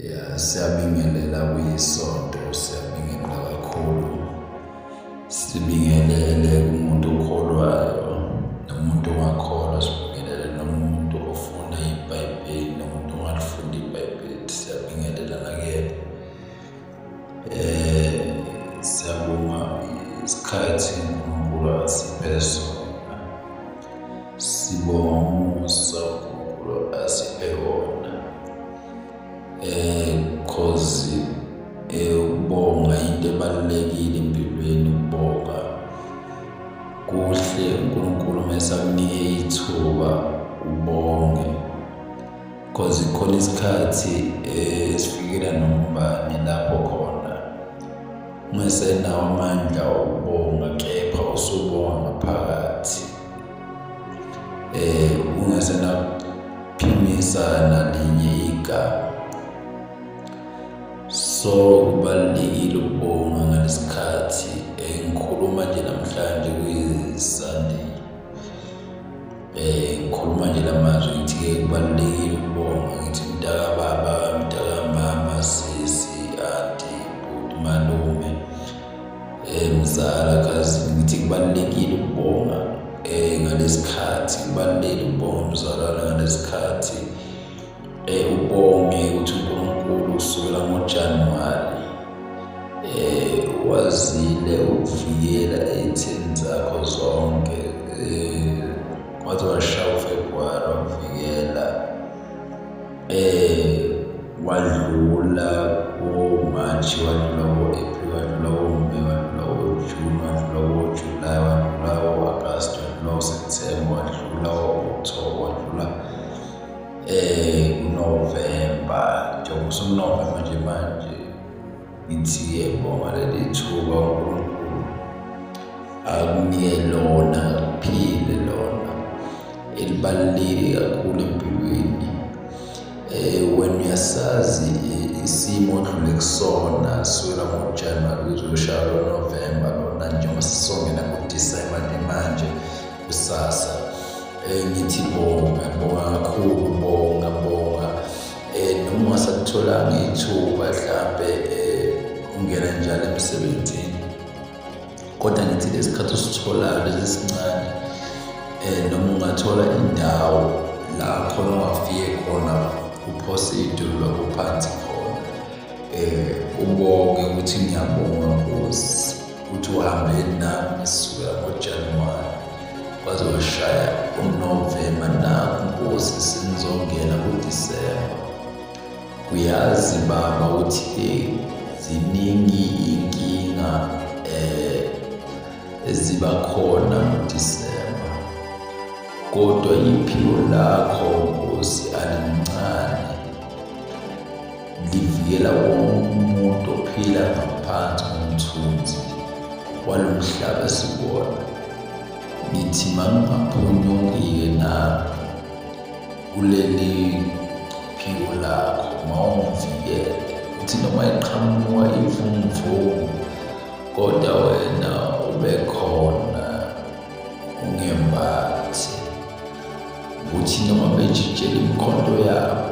ya siyabingelela kuyisonto siyabingelela kakhulu sibingelele kumuntu okholwayo nomuntu ongakholwa sibingelele nomuntu ofuna ibhayibheli nomuntu ongalifunda ibhayibheli siyabingelela nakuyena Eh siyabonga isikhathi uNkulunkulu asiphe sona. Sibonga umusa uNkulunkulu asiphe wona. Eh cause eh ukubonga into ebalulekile empilweni ukubonga. Kuhle uNkulunkulu mesakunike ithuba ubonge. cause khona isikhathi eh, esifikela nombani lapho khona ungesenawo amandla okubonga kepha usubonga ngaphakathi eh ungesenaphimisa nalinye igama so kubalulekile ukubonga ngalesikhathi engikhuluma nje namhlanje kuyisandile Eh ngikhuluma nje lamazwi ngithi ke kubalulekile ukubonga ngithi mntaka baba mntaka mama sisi anti bhuti malume eh mzala kazi ngithi kubalulekile ukubonga eh ngalesikhathi kubalulekile ukubonga mzalwana ngalesikhathi Eh ubonge ukuthi uNkulunkulu kusukela ngoJanuwari eh wazile ukuvikela ezitheni zakho zonke eh waze washaya uFebruwari wakuvikela eh wadlula ko-March wadlula ko-April wadlula ko-May wadlula ko-June wadlula ko-July wadlula ko-August wadlula ko-September wadlula ko-October wadlula eh uNovember njengoba usuNovember nje manje ngithi yebo ngaleli thuba uNkulunkulu akunike lona kuphile lona elibaluleke kakhulu empilweni eh wena uyasazi eh, isimo odlule kusona sukela ngoJanuary kuzoshaya November lona njengoba sisongena ngoDecember nje manje kusasa eh, ngithi bonga bonga kakhulu bonga bonga eh, noma ungasakutholanga ithuba hlampe eh, ungena njalo emsebenzini kodwa ngithi lesikhathi usitholayo lesi sincane um noma ungathola indawo la khona ungafike khona uphose idolo lakho phansi khona um ubonge ukuthi ngiyabonga nkosi uthi uhambeni nami sukela ngojanuwari waze washaya unovemba naku nkosi sinizongena kudisemba uyazi baba ukuthi ziningi inkinga eh eziba khona ngoDisemba kodwa iphilo lakho Nkosi alincane Livikela wonke umuntu ophila ngaphansi komthunzi walo mhlaba sibona. Ngithi mangingaphunyukike nami kuleli phiko lakho mawungivikele ukuthi noma iqhamuka imvumvumu kodwa wena ube khona ungembathi ukuthi noma bejijela imkhonto yabo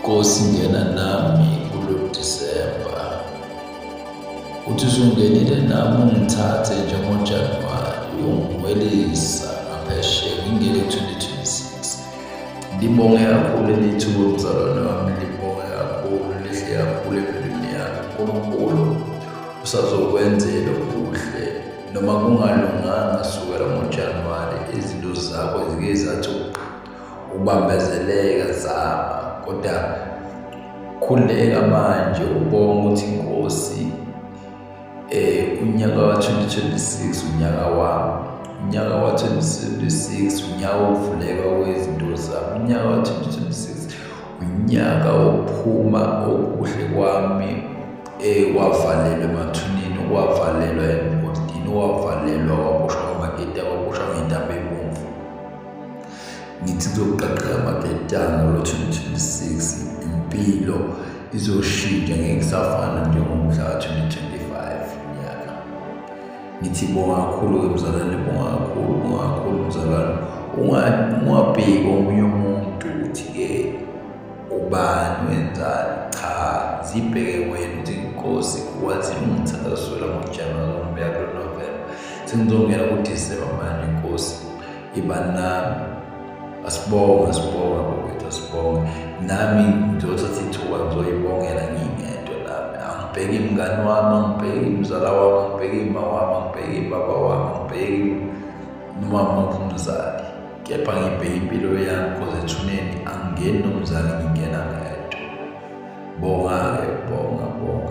Nkosi ngena nami kulo Disemba. Uthi usungenile nami ungithathe njengoJanuwari uyongibuyelisa ngaphesheya ngingene 2026. Ngibonge kakhulu elithuba umzalwane wami libonge kakhulu lihle kakhulu empilweni yami. UNkulunkulu usazokwenzela okuhle noma kungalunganga sukela ngoJanuwari izinto zakho zike zathi ubambezeleka zama kodwa khuleka manje ubonga ukuthi inkosi eh unyaka wa-2026 unyaka wami unyaka wa-2026 unyaka wokuvuleka kwezinto zami unyaka wa-2026 unyaka wokuphuma okuhle kwami eh wavalelwa emathuneni wavalelwa emgodini wavalelwa waboshwa kwamagede waboshwa ngentambo ngithi kuzoqaqeka amaketanga ngo-2026 impilo izoshintsha ngeke kusafana njengomhla ka-2025 nyaka ngithi bonga kakhulu-ke mzalwane bonga kakhulu bonga kakhulu mzalwane ungabheki omunye umuntu ukuthi-ke ubani wenzani cha zibheke wena ukuthi inkosi wathi ungithandazwela ngojanuwari umbeya kulo novemba sengizongena kudisemba manje inkosi ibani nami asibonga sibonga bokwethu asibonga nami ngizothatha ithuba ngizoyibongela ngingedwa nami angibheki imngani wami angibheki imzala wami angibheki ima wami angibheki ibaba wami angibheki noma muphi umzali kepha ngibheke impilo yami cause ethuneni angingeni nomzali ngingena ngedwa bonga-ke bonga bonga